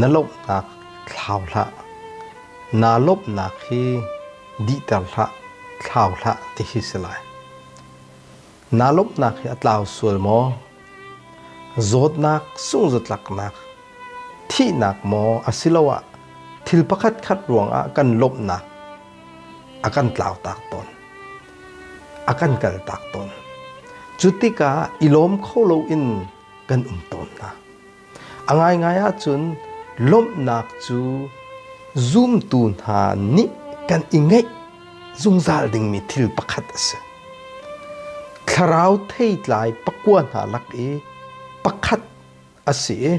Na lawmhnak thlau hlah, naa lawmhnak hi dihter hlah, thlau hlah ti hi si lai. Naa lawmhnak hi a tlau sual maw? Zawtnak, sungzatlaknak, thihnak maw asiloah thil pakhat khat ruangah kan lawmhnak a kan tlau tak tawn, a kan kal tak tawn. Cu tikah i lawm kho loin kan um tawn hna. A ngaingai ahcun lawmhnak cu zumtu hna nih kan i ngeih zungzal dingmi thil pakhat a si. Thlarau theitlai pakua hna lak i pakhat a si i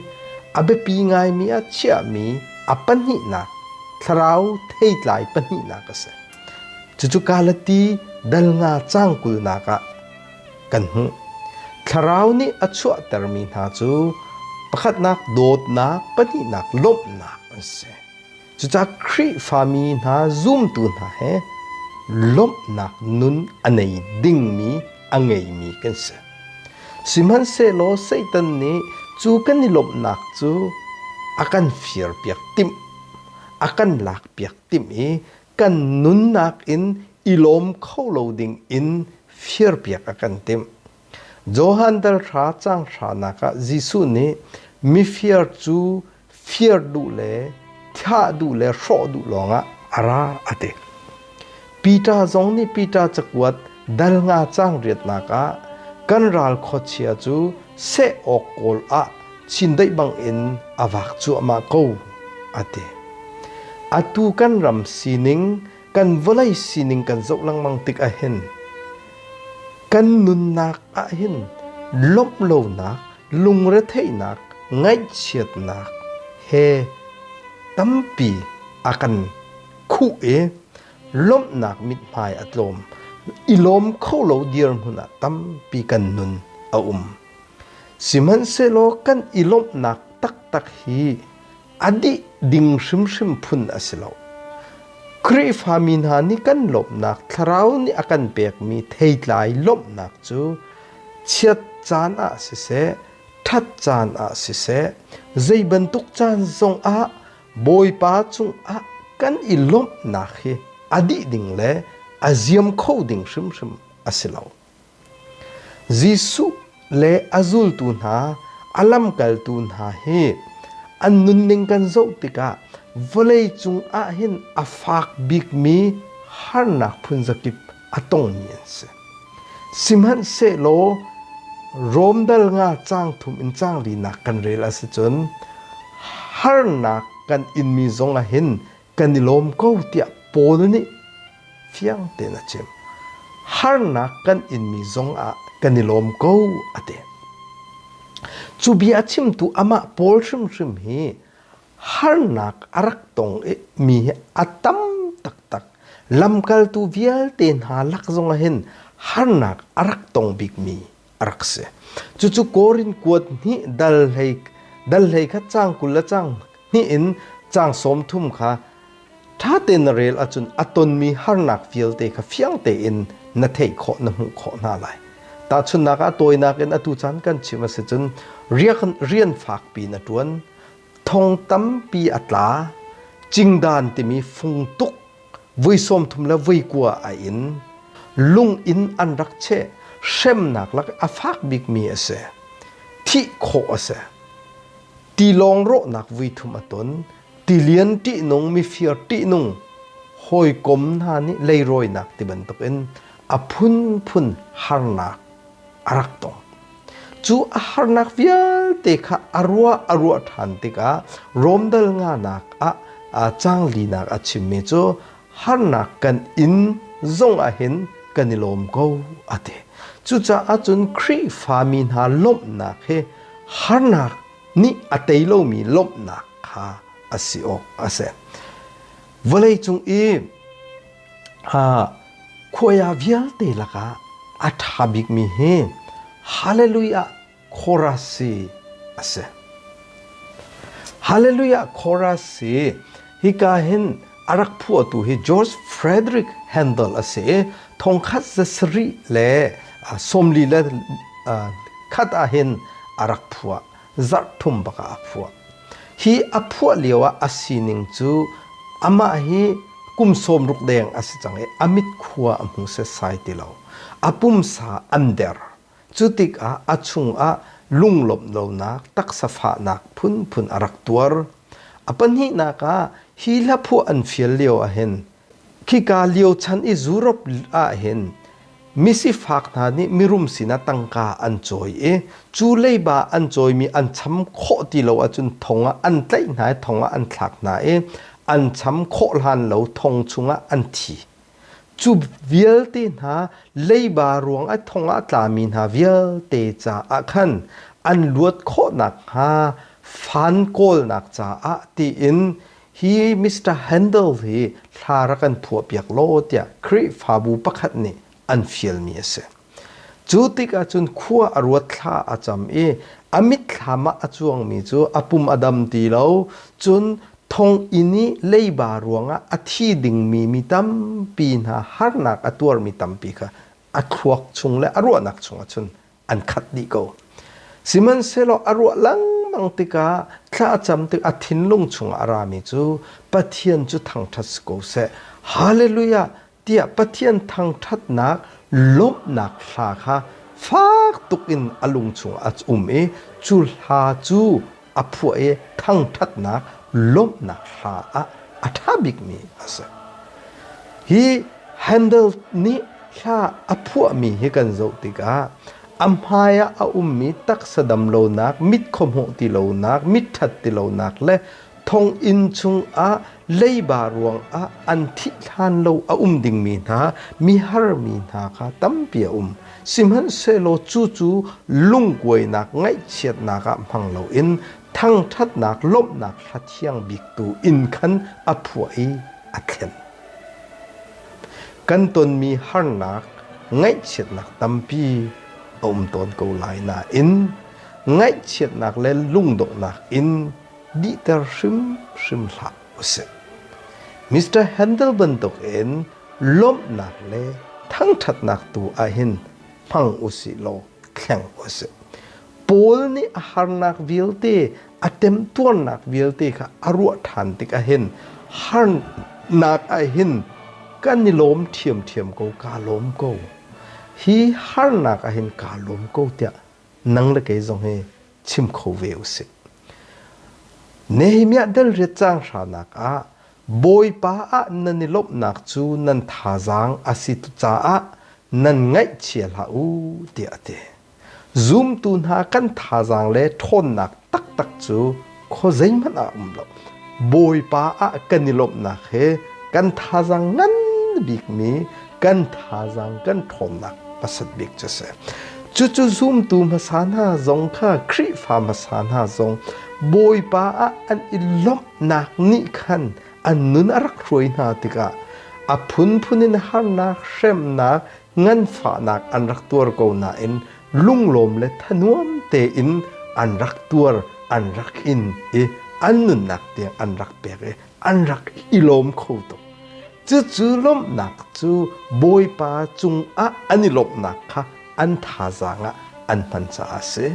a biapi ngaimi a chiahmi a pahnihnak thlarau theitlai pahnihnak a si. Cucu Galati dal nga cangkulnak ah kan hmuh. Thlarau nih a chuahtermi hna cu pakhatnak dawtnak, pahnihnak lawmhnak an si. Cucaah Khrihfami hna zumtu hna he lawmhnak nun a nei dingmi a ngeimi kan si. Sihmanhsehlaw Satan nih cu kan i lawmhnak cu a kan firpiak timh, a kan lakpiak timh i kan nunnak in i lawm kho lo ding in firpiak a kan timh. Johan dal hra cang hranak ah Jesuh nih mifir cu fir duh le thah duh le hrawh duh lawngah a ra a ti. Peter zong nih Peter cakuat Dal nga caang riatnak ah kan ral khuachia cu seh awk kawl ah chindeih bangin a vak cuahmah ko, a ti. Atu kan ram sining, kan vawlei sining kan zoh lengmang tik ah hin kan nunnak ah hin lawmh lonak, lungretheihnak, ngaihchiatnak he tampi a kan khuh i lawmhnak mithmai a tlawm i lawm kho lo dirhmun ah tampi kan nun a um sihmanhsehlaw kan i lawmhnak taktak hi a dih ding hrimhrim phun a si lo Khrihfami hna nih kan lawmhnak thlarau nih a kan pekmi theitlai lawmhnak cu chiat caan ah siseh ṭhat caan ah siseh zei bantuk caan zong ah Bawipa cungah kan i lawmhnak hi a dih ding le a ziam kho ding hrimhrim a si lo. Jesuh le a zultu hna, a lamkaltu hna hi an nunning kan zoh tikah vawlei cungah hin a fak bikmi harnak phun zakip a tongmi an si. Sihmanhsehlaw Rom dal nga cang thum in cang linak kan rel a si cun harnak kan inmi zong ah hin kan i lawm ko tiah Paul nih fiang tein a chim. Harnak kan inmi zong ah kan i lawm ko a ti. Cu bia a chimtu amah Paul hrimhrim hi harnak a rak tong i mi hi a tam taktak lamkaltu vialte hna lak zongah hin harnak a rak tong bikmi a rak si cucu Korin kuat hnih dal hlei dal hlei kha cang kul le cang hnih in cang sawm thum kha ṭha tein na rel ahcun a tonmi harnak vialte kha fiang tein na theih khawh na hmuh khawh hna lai tahchunhnak ah tawinak in atu caan kan chim a si cun rian fakpi na ṭuan thong tampi a tla. Cingdan timi fung tuk voi sawm thum le voi kua a in. Lung in an rak cheh. Hremnak lak a fak bikmi a si. Thih khawh a si. Tilawng rawhnak vui thum a ton. Tilian ṭihnung, mifir ṭihnung, hawikom hna nih leirawinak ti bantukin a phunphun harnak a rak tong. Cu a harnak vialte kha a ruah a ruah ṭhan tikah Rom dal nganak ah canglinak a chimmi cu harnak kan in zongah hin kan i lawm ko a ti. Cucaah cun Khrihfami hna lawmhnak hi harnak nih a tei lomi lawmhnak kha a si awk a si. Vawleicung i Khuaya vialte lakah a ṭha bikmi hi Hallelujah Chorus hi a si. Hallelujah Chorus hi hika hin a rak phuahtu hi George Frederick Handel a si i thongkhat za sarih le sawmli le khat ah hin a rak phuah. zarhthum bak ah a phuah. Hi a phuah lio ah a sining cu amah hi kum sawmruk deng a si cang i a mitkhua a hmu setsai ti lo. A pumsa an der. Cu tikah a chungah lunglawmh lonak taksa fahnak phunphun a rak tuar. A pahnihnak ah hi hla phuah an fial lio ahhin Khika lio chan i Europe ahhin misifak hna nih mirum sinah tangka an cawi i cu leiba an cawimi an cham khawh ti lo ahcun thong ah an tlaih hna i thong ah an thlak hna i an cham khawh hlan lo thong chungah an thi. Cu vialte hna leiba ruangah thong ah tlami hna vialte caah khan an luat khawh nakhnga fan kawlnak caah tiin Hi Mr. Handel hi hla rak an phuahpiak law tiah Khrihfabu pakhat nih an fialmi a si. Cu tikah cun khua a ruat thla a cam i a mitthlam ah a cuangmi cu a pum a dam ti lo. Cun thonginn i leiba ruangah a thi dingmi mi tampi hna harnak a tuarmi tampi kha a thluak chung le a ruahnak chungah cun an khat dih ko. Sihmanhsehlaw a ruah lengmang tikah thlacam tik a thinlung chungah a rami cu Pathian cu thangṭhat si ko seh. Hallelujah tiah Pathian thangṭhatnak lawmhnak hla kha fak tuk in a lung chungah a um i cu hla cu a phuah i thangṭhatnak lawmhnak hla ah a ṭha bikmi a si. Hi Handel nih hla a phuahmi hi kan zoh tikah a hmaiah a ummi taksa damlonak, mit khuahmawh tilonak, mit ṭhat tilonak le thonginn chungah leiba ruangah an thih hlan lo a um dingmi hna mihar mi hna kha tampi a um sihmanhsehlaw cucu lungkuainak ngaihchiatnak ah hmang loin thangṭhatnak lawmhnak hla thiang bik tu in khan a phuah i a thlen kan tonmi harnak ngaihchiatnak tampi a um tawn ko lai nain ngaihchiatnak le lungdawhnak in dihter hrimhrim hlah usih. Mr. Handel bantukin lawmhnak le thangṭhatnak tu ahhin hmang usih law thleng usih. Paul nih a harnak vialte a temtuarnak vialte kha a ruah ṭhan tikah hin harnak ahhin kan i lawm ṭhiamṭhiam ko kaa lawm ko hi harnak ahhin kaa lawm ko tiah nang le kei zong hi chim kho ve usih. Nehemiah delriat cang hranak ah Bawipa ah nan i lawmhnak cu nan thazaang a si caah nan ngaihchia hlah u tiah a ti. Zumtu hna kan thazaang le ṭhawnnak taktak cu kho zeihmanh a um lo. Bawipa ah kan i lawmhnak he kan thazaang ngan bikmi kan thazaang kan ṭhawnnak hmasat bik cu a si. Cucu zumtu hmasa hna zong kha Khrihfa hmasa hna zong Bawipa ah an i lawmhnak nih khan an nun a rak hruai hna tikah a phunphun in harnak, hremnak, nganfahnak an rak tuar ko nain lunglawm le thanuam tein an rak tuar, an rak in i an nunnak tiang an rak pek i an rak i lawm kho tuk. Cucu lawmhnak cu Bawipa cungah an i lawmhnak kha an thazaang ah an hman caah a si.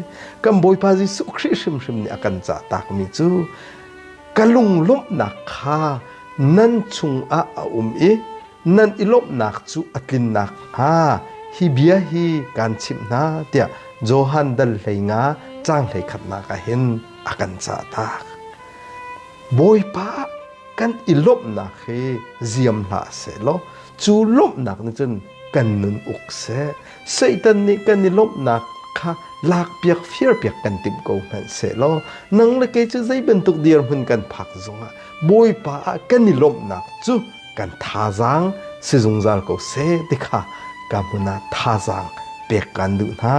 Kan Bawipa Jesuh Khrih hrimhrim nih a kan cahtakmi cu ka lunglawmhnak kha nan chungah a um i nan i lawmhnak cu a tlin nakhnga hi bia hi kaan chimh hna tiah Johan dal hleinga caang hlei khatnak ah hin a kan cahtak. Bawipa kan i lawmhnak hi ziam hlah seh law cu lawmhnak nih cun kan nun uk seh Satan nih kan i lawmhnak kha lakpiak firpiak kan timh ko hmanh seh law nang le kei cu zei bantuk dirhmun kan phak zongah Bawipa ah kan i lawmhnak cu kan thazaang si zungzal ko seh ti kha ka hmun ah thazaang pek kan duh hna